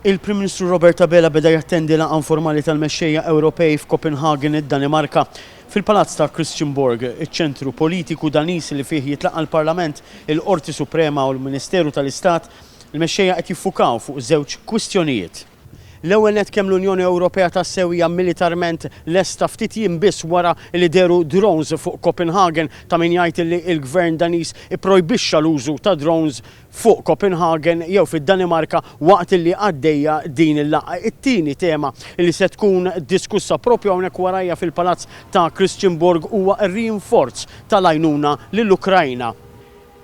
Il-Prim Ministru Robert Abela beda jattendi laqgħa informali tal-mexxejja Ewropej f'Copenhagen, id-Danimarka. Fil-Palazz ta' Christianborg, iċ-ċentru politiku Daniż li fih jitlaqa' l-Parlament, il-Qorti Suprema u l-Ministeru tal-Istat, il-mexxejja qed jiffukaw fuq żewġ kwistjonijiet. L-ewwel nett kemm l-Unjoni Ewropea tassew hija militarment lesta ftit jiem biss wara li dehru drones fuq Copenhagen ta' min jgħid li l-Gvern Daniż ipprojbixxa l-użu ta' drones fuq Copenhagen jew fid-Danimarka waqt li għaddejja din il-laqgħa. It-tieni tema li se tkun diskussa proprju hawnhekk warajja fil-Palazz ta' Christianborg huwa r-rinforz tal-għajnuna lill-Ukrajna.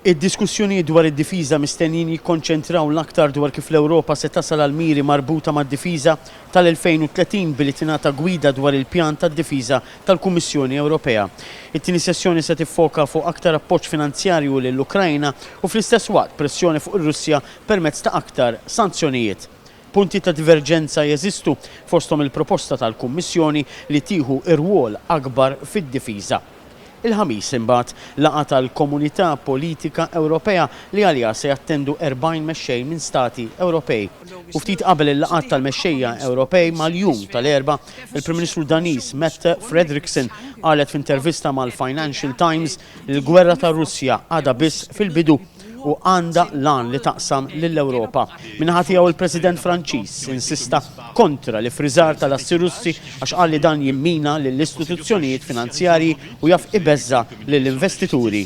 Id-diskussjonijiet dwar id-difiża mistennijin jikkonċentraw l-aktar dwar kif l-Ewropa se tasal għall-miri marbuta mad-difiża, tal-2030 billi tingħata gwida dwar il-pjan ta' difiża tal-Kummissjoni Ewropea. It-tieni sessjoni se tiffoka fuq aktar appoġġ finanzjarju lill-Ukraina u fl-istess waqt pressjoni fuq ir-Russja permezz ta' aktar sanzjonijiet. Punti ta' diverġenza jeżistu, fosthom il-proposta tal-Kummissjoni li tieħu rwol akbar fid-difiża. Il-Ħamis imbagħad, laqgħa tal-Komunità Politika Ewropea li għaliha se jattendu 40 mexxej minn stati Ewropej. U ftit qabel il-laqgħat tal-mexxejja Ewropej mal-jum tal-Erbgħa, il-Prim Ministru Daniż Mette Frederiksen qalet f'intervista mal-Financial Times li l-gwerra tar-Russja għadha biss fil-bidu. u għandha l-għan li taqsam lill-Ewropa. Min-naħa tiegħu l-President Franċiż insista kontra l-iffriżar tal-assi Russi għax qal li dan jimmina lill-istituzzjonijiet finanzjarji u jaf ibeżża' lill-investituri.